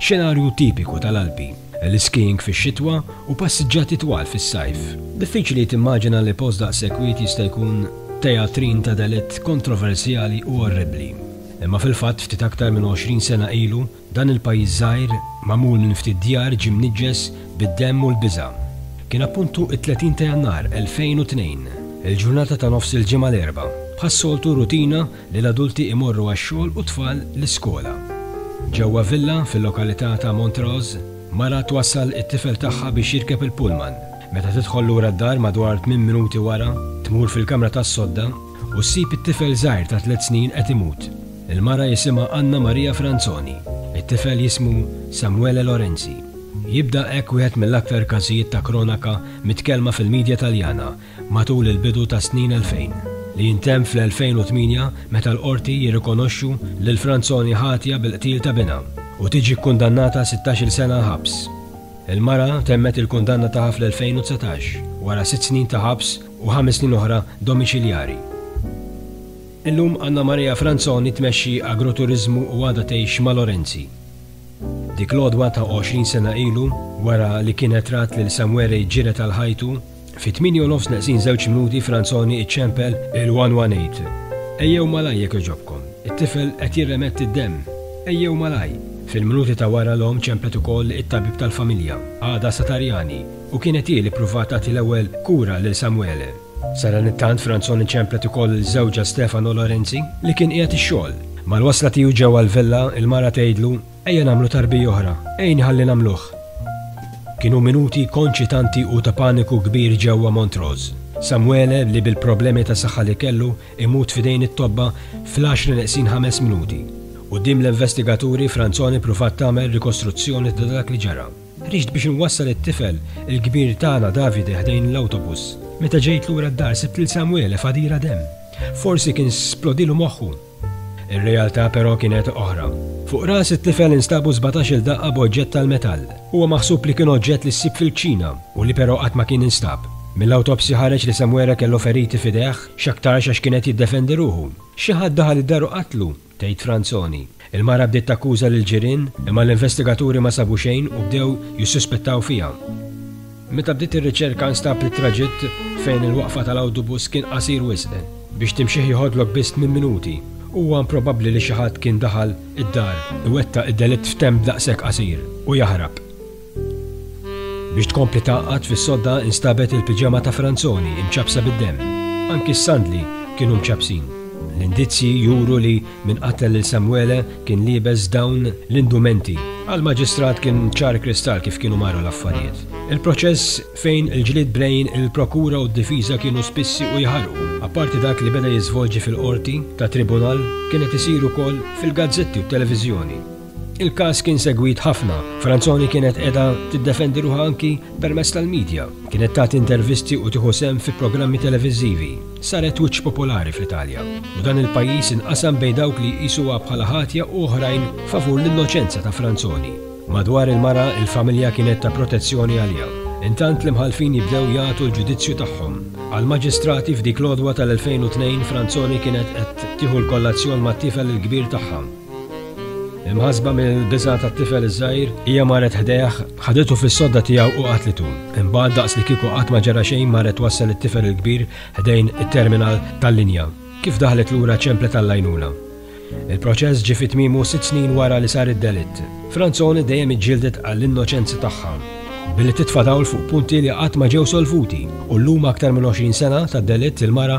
Xenarju tipiku tal-Alpi, l-iskijing fix-xitwa u passiġġati twal fis-sajf. Diffiċli timmaġina li post daqshekk wied jista' jkun tejatrin ta' delitt kontroversjali u orribbli. Imma fil-fatt ftit aktar minn għoxrin sena ilu, dan il-pajjiż żgħir, magħmul minn ftit djar ġie mniġġes bid-demm u l-biża'. Kien appuntu t-30 ta' Jannar 2002, il-ġurnata ta' nofs il-ġimgħa l-Erbgħa. Bħas-soltu rutina li l-adulti jmorru għax-xogħol u t-tfal l-iskola. Ġewwa villa fil-lokalità ta' Montrose, mara twassal it-tifel tagħha biex jirkeb il-pullman. Meta tidħol lura d-dar madwar tmien minuti wara, tmur fil-kamra tas-sodda u ssib it-tifel żgħir ta' tliet snin qed imut. Il-mara jisimha Anna Maria Franzoni. It-tifel jismu Samuele Lorenzi. Jibda hekk wieħed mill-aktar każijiet ta' kronaka mitkellma fil-midja Taljana Matul il-bidu tas-snin 2000, li jintemm fl-2008 meta l-Qorti jirrikonoxxu lil Franzoni ħatja bil-qtil ta' binha u tiġi kkundannata għal sittax-il sena ħabs. Il-mara temmet il-kundanna tagħha fl-2019 wara sitt snin ta' ħabs u ħames snin oħra domiċiljari. Illum Anna Maria Franzoni tmexxi agroturiżmu u għadha tgħix ma' Lorenzi. Dik l-għodwa ta' għoxrin sena ilu, wara li kienet rat lil Samuele jġired għal ħajtu, Fit-tmieni u nofs neqsin żewġ minuti Franzoni iċċempel il-118. Ejjew malaj jekk jogħġobkom. It-tifel qed jirremetti d-demm. Ejjew malaj. Fil-minuti ta' wara l-omm ċemplet ukoll it-tabib tal-familja, Ada Satarjani, u kienet hi li ppruvat tagħti l-ewwel kura lil Samuele. Sadanittant Franzoni ċemplet ukoll lil żewġha Stefano Lorenzi li kien qiegħed ix-xogħol. Mal-wasla tiegħu ġewwa l-villa, il-mara tgħidlu, Ejja nagħmlu tarbija oħra, għinni ħalli nagħmluh! Kienu minuti konċitanti u ta' paniku kbir ġewwa Montrose. Samuele, li bil-problemi ta' saħħa li kellu, imut f'idejn it-tobba fl-għaxra neqsin ħames minuti. Quddiem l-investigaturi, Franzoni ppruvat tagħmel rikostruzzjoni ta' dak li ġara. Ħriġt biex inwassal it-tifel, il-kbir tagħna Davide ħdejn l-awtobus. Meta ġejt lura d-dar sibt lil Samuele f'għadira demm. Forsi kien splodilu moħħu. Ir-realtà però kienet oħra. Fuq ras it-tifel instabu sbatax-il daqqa b'oġġett tal-metall. Huwa maħsub li kien oġġett li ssib fil-kċina u li però qatt ma kien instab. Mill-awtopsja ħareġ li Samwere kellu feriti f'idejh, x'aktarx għax kien qed jiddefendi ruħu. Xi ħadd daħal id-dar u qatlu, tgħid Franzoni. Il-mara bdiet takkuża lill-ġirien, imma l-investigaturi ma sabu xejn u bdew jissuspettaw fiha. Meta bdiet ir-riċerka nstab li t-traġitt fejn il-waqfa tal-awtubus kien qasir wisq biex timxih jieħodlok biss tmien minuti. Huwa improbabbli li xi ħadd kien daħal id-dar, iwettaq id-delitt f'temp daqshekk qasir u jaħrab. Biex tkompli tgħaqqad fis-sodda nstabet il-piġama ta' Franzoni mċappsa bid-demm. Anki s-sandli kienu mċappsin. L-indizji juru li Min qattel lil Samwele kien liebes dawn l-indumenti? Għall-Maġistrat kien ċar kristall kif kienu marru l-affarijiet. Il-proċess fejn il-ġlied brejn il-prokura u d-difiża kienu spissi u jħarrqu, apparti dak li beda jiżvolġi fil-qorti ta' tribunal, kien qed isir ukoll fil-gazzetti u t-televiżjoni. Il-każ kien segwit ħafna. Franzoni kienet qiegħda tiddefendi ruħha anki permezz tal-media. Kienet tagħti intervisti u tieħu sehem fi programmi televiżivi. Saret wiċċ popolari fl-Italja. U dan il-pajjiż inqasam bejn dawk li jqisuha bħala ħatja u oħrajn favur l-innoċenza ta' Franzoni. Madwar il-mara, il-familja kienet ta' protezzjoni għaliha. Intant l-imħallfin jibdew jagħtu l-ġudizzju tagħhom. Għal-maġistrati f'dik l-għodwa tal-2002 Franzoni kienet qed tieħu l-kollazzjon mat-tifel il-kbir tagħha. Imħassba mill-biża' tat-tifel iż-żgħir, hija marret ħdejh, ħaditu fis-sodda tiegħu u qatlitu. Imbagħad daqs li kieku qatt ma ġara xejn marret twassal it-tifel il-kbir ħdejn it-terminal tal-linja. Kif daħlet lura ċemplet għall-għajnuna. Il-proċess ġie fi tmiemu sitt snin wara li sar id-delitt. Franzoni dejjem iġġieldet għall-innoċenza tagħha, billi titfa' dawl fuq punti li qatt ma ġew solvuti, u llum aktar minn 20 sena tad-delitt il-mara